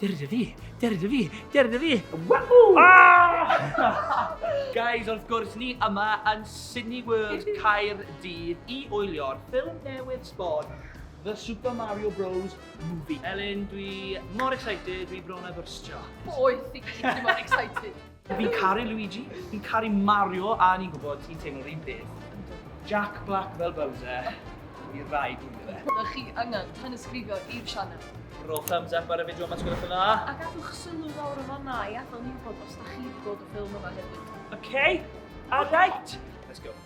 Deryd y fi! Deryd y fi! Deryd y fi! Wahoo! Ah! Guys, wrth gwrs, ni yma yn Sydney World Caer Dydd i oelio'r ffilm newydd sbon The Super Mario Bros Movie. Elin, dwi mor excited, dwi bron a byrstio. Boeth i gyd, dwi mor excited. Fi'n caru Luigi, fi'n caru Mario a ni'n gwybod ti'n teimlo rhywun peth. Jack Black fel Bowser, i rai dwi'n fe. Ydych chi angen tanysgrifio i'r sianel? Rho thumbs up ar y fideo yma sgwylwch yn dda. A gadwch sylw lawr yn fanna i adael ni wybod os da chi wedi gweld y ffilm yma hefyd. Ok, alright, let's go.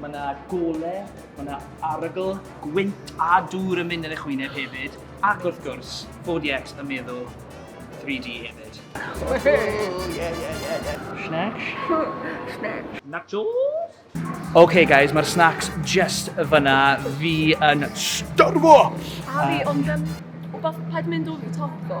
Mae yna gole, mae yna arogl, gwynt a dŵr yn mynd yn eich wyneb hefyd, ac wrth gwrs, 4DX yn meddwl 3D hefyd. Snacks? Snacks. Nachos? OK guys, mae'r snacks just y fyna fi yn starfo! A fi, ond um, wbath paid mynd o'r top ddo.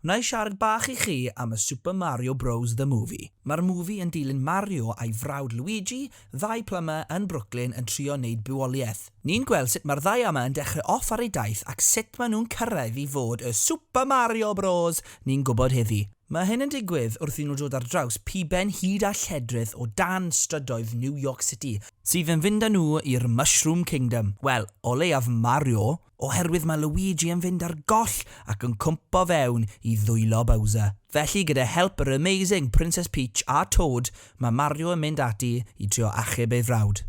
Wna i siarad bach i chi am y Super Mario Bros The Movie. Mae'r movie yn dilyn Mario a'i frawd Luigi, ddau plumber yn Brooklyn yn trio neud bywoliaeth. Ni'n gweld sut mae'r ddau yma yn dechrau off ar eu daith ac sut maen nhw'n cyrraedd i fod y Super Mario Bros ni'n gwybod heddi. Mae hyn yn digwydd wrth i nhw dod ar draws piben hud a lledrith o dan strydoedd New York City, sydd yn fynd â nhw i'r Mushroom Kingdom, wel, o leiaf Mario oherwydd mae Luigi yn fynd ar goll ac yn cwmpo fewn i ddwylo Bowser. Felly gyda help yr amazing Princess Peach a Toad mae Mario yn mynd ati i trio achub ei frawd.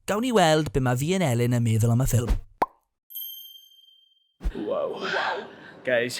Gawn ni weld be mae Vian Elin yn meddwl am y ffilm. Wow. Guys.